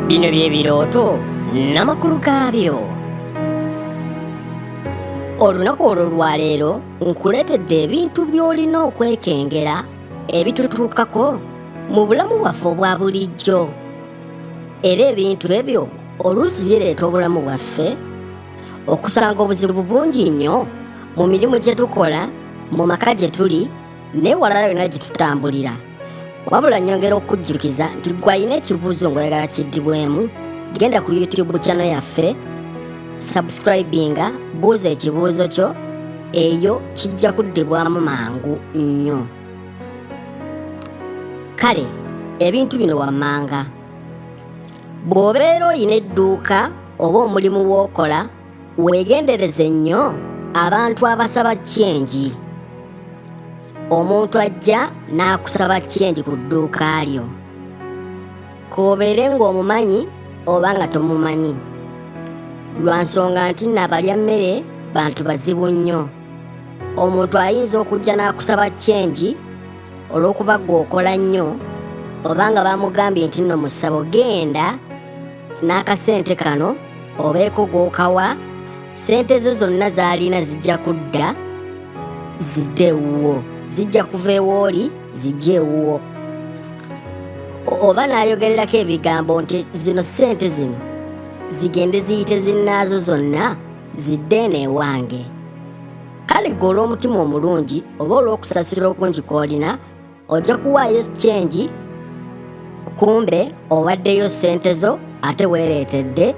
bino by'ebirooto n'amakulu gaabyo olunaku olwo lwaleero nkuleetedde ebintu by'olina okwekengera ebitutuukako mu bulamu bwaffe obwa bulijjo era ebintu ebyo oluusi bireeta obulamu bwaffe okusanga obuzibu bungi nnyo mu mirimu gye tukola mu maka gye tuli neewalala yonna gye tutambulira wabula nyongera okujjukiza nti gwe alina ekibuuzo ngaoyagala kiddibwemu genda ku youtube chano yaffe subscribinga buuza ekibuuzo kyo eyo kijja kuddibwamu mangu nnyo kale ebintu bino wammanga bw'obeera olina edduuka oba omulimu w'okola weegendereze nnyo abantu abasaba kyengi omuntu ajja n'akusaba kyengi ku dduuka lyo koobeere ng'omumanyi oba nga tomumanyi lwa nsonga nti nabalya mmere bantu bazibu nnyo omuntu ayinza okujja n'akusaba kyengi olw'okuba gwe okola nnyo oba nga bamugambye nti nno mu ssabo genda n'akasente kano obeeko gw'okawa sente ze zonna z'alina zijja kudda zidde ewuwo zijja kuva ewooli zijja ewuwo oba n'ayogererako ebigambo nti zino sente zino zigende ziyite zinnaazo zonna zidde eno ewange kale gwe olw'omutima omulungi oba olw'okusasira okungi kw'olina ojja kuwaayo change kumbe owaddeyo sente zo ate weereetedde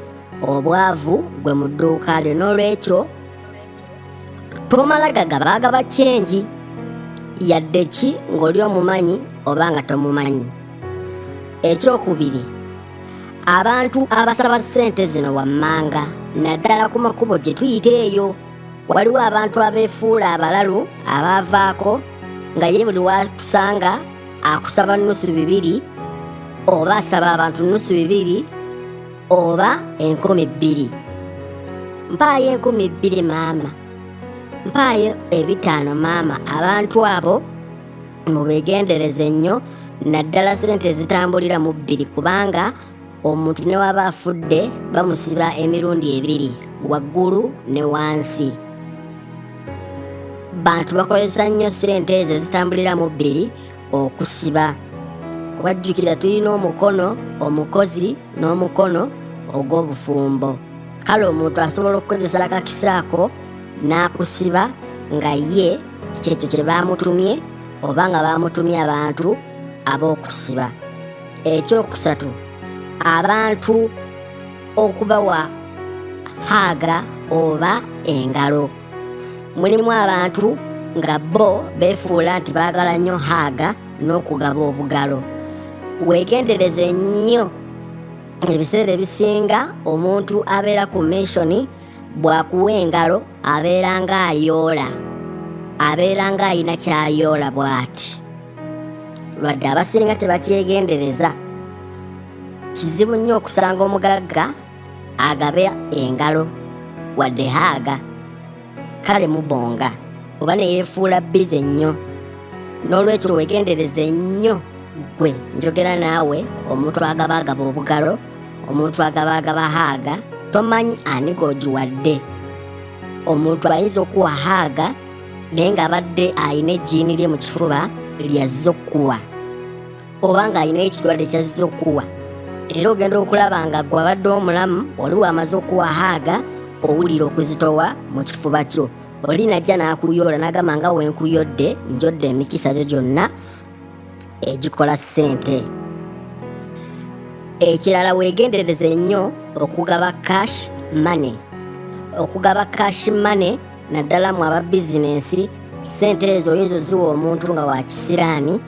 obwavu gwe mu dduuka lyo n'olwekyo tomala gagabaagaba change yadde ki ng'oli omumanyi oba nga tomumanyi ekyokubiri abantu abasaba sente zino wammanga naddala ku makubo gye tuyita eyo waliwo abantu abeefuula abalalu abaavaako nga ye buli watusanga akusaba nnusu bibiri oba asaba abantu nnusu bibiri oba enkumi bbiri mpaayo enkumi bbiri maama mpaayo ebitaano maama abantu abo mubegendereze nnyo naddala sente ezitambulira mu bbiri kubanga omuntu ne waba afudde bamusiba emirundi ebiri waggulu ne wansi bantu bakozesa nnyo ssente ezo ezitambulira mu bbiri okusiba kubajjukira tulina omukono omukozi n'omukono ogw'obufumbo kale omuntu asobola okukozesa akakisa ako n'akusiba nga ye kyekyo kye baamutumye oba nga baamutumye abantu ab'okusiba ekyokusatu abantu okubawa haaga oba engalo mulimu abantu nga bo befuula nti baagala nnyo haaga n'okugaba obugalo weegendereze nnyo ebiseera ebisinga omuntu abeera ku mishoni bwakuwa engalo abeera ng'ayoola abeera ng'alina ky'ayoola bw'ati lwadde abasinga tebakyegendereza kizibu nnyo okusanga omugagga agabe engalo wadde haaga kale mubonga oba neyefuula bize nnyo n'olwekyo wegendereze nnyo gwe njogera naawe omuntu agaba agaba obugalo omuntu agaba agaba haaga tomanyi ani gogiwadde omuntu ayinza okuwa haaga naye ng'abadde alina ejjiini lye mu kifuba lya zokkuwa oba ng'alina ekirwadde kya zokkuwa era ogenda okulaba nga gwe abadde omulamu oli wamaze okuwahaaga owulira okuzitowa mu kifuba kyo oli najja n'akuyoola n'agamba nga wenkuyodde njodde emikisa gyo gyonna egikola ssente ekirala weegendereze nnyo okugaba cash money okugaba cash money naddala mu aba bizinensi ssente ezo oyinza oziwa omuntu nga wa kisiraani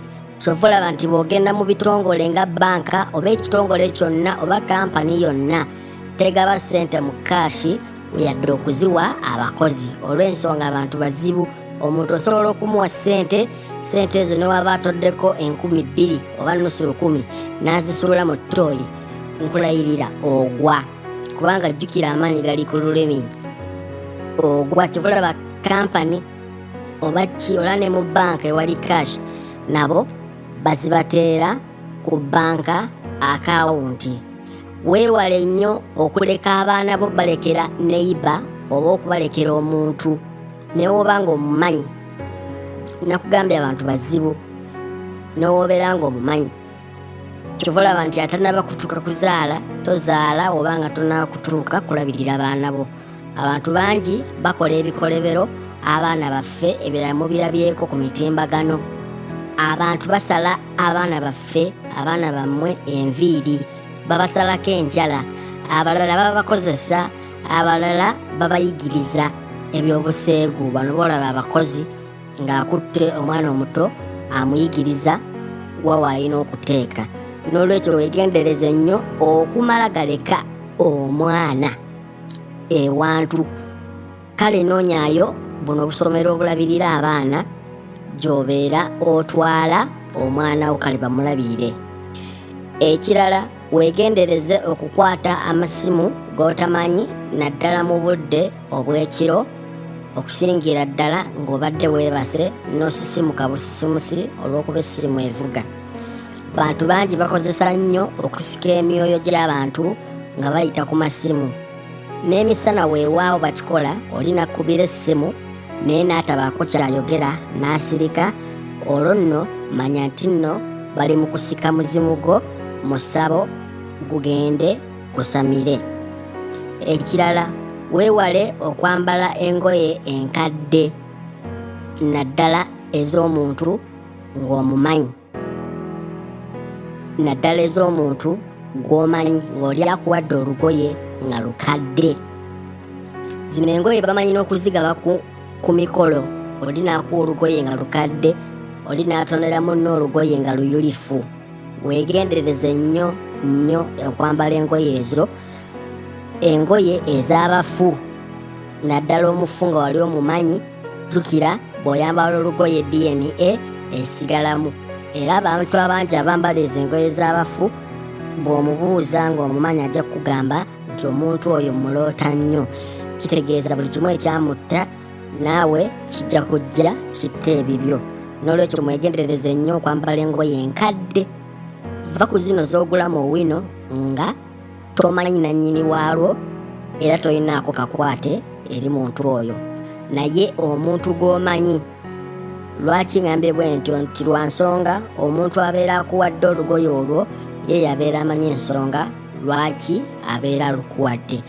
kyova olaba nti bw'ogenda mu bitongole nga banka oba ekitongole kyonna oba kampani yonna tegaba ssente mu kaashi yadde okuziwa abakozi olw'ensonga abantu bazibu omuntu osobola okumuwa ssente ssente ezo ne waba atoddeko enkumi bbiri oba nusu lukumi n'azisuula mu tooyi nkulayirira ogwa kubanga jjukira amaanyi gali ku lulimi ogwa kyova olaba kampani oba ki ola ne mu banka ewali cash nabo bazibateera ku banka akawunti weewale nnyo okuleka abaana bo balekera neyiba oba okubalekera omuntu newoba nga omumanyi nakugambye abantu bazibu nowobeera nga omumanyi kyova olaba nti atanaba kutuuka kuzaala tozaala oba nga tonaba kutuuka kulabirira abaana bo abantu bangi bakola ebikolebero abaana baffe ebirala mubirabyeko ku mitimbagano abantu basala abaana baffe abaana bammwe enviiri babasalako enjala abalala babakozesa abalala babayigiriza ebyobuseegu bano boolaba abakozi ng'akutte omwana omuto amuyigiriza wa waalina okuteeka n'olwekyo weegendereze nnyo okumala galeka omwana ewantu kale noonyayo buno obusomero obulabirira abaana gy'obeera otwala omwana wo kale bamulabirire ekirala Weegendereze okukwata amasimu g'otamanyi naddala mu budde obw'ekiro okusingira ddala ng'obadde weebase n'osisimuka busisimusi olw'okuba essimu evuga. Bantu bangi bakozesa nnyo okusika emyoyo gy'abantu nga bayita ku masimu. n'emisana weewaawo bakikola oli n'akkubira essimu naye n'atabaako ky'ayogera n'asirika olwo nno manya nti nno bali mu kusika muzimu gwo mu ssabo gugende kusamire ekirala weewale okwambala engoye enkadde naddala ez'omuntu ng'omumanyi naddala ez'omuntu gw'omanyi ng'oli akuwadde olugoye nga lukadde zino engoye bamanyi n'okuzigaba ku mikolo oli n'akuwa olugoye nga lukadde oli n'atonera munno olugoye nga luyulifu weegendereze nnyo nnyo okwambala engoye ezo engoye ez'abafu naddala omufu nga wali omumanyi jjukira bw'oyambala olugoye dna esigalamu era abantu abangi abambala ezo engoye z'abafu bw'omubuuza ng'omumanyi ajja kukugamba nti omuntu oyo muloota nnyo kitegeeza buli kimu ekyamutta naawe kijja kujja kitta ebibyo n'olwekyo mwegendereze nnyo okwambala engoye enkadde va ku zino z'ogula mu wino nga tomanyi nannyini waalwo era tolinaako kakwate eri muntu oyo naye omuntu gw'omanyi lwaki ngambye bwe ntyo nti lwa nsonga omuntu abeera akuwadde olugoye olwo ye yabeera amanyi ensonga lwaki abeera alukuwadde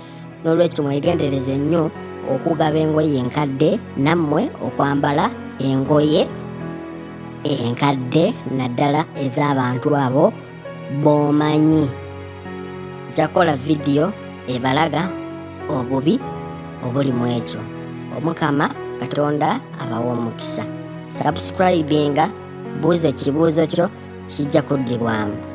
n'olwekyo mwegendereze nnyo okugaba engoye enkadde nammwe okwambala engoye enkadde naddala ez'abantu abo bwomanyi jakola vidiyo ebalaga obubi obuli mu ekyo omukama katonda abawa omukisa sabusikribinga buuza ekibuuzo kyo kijja kuddibwamu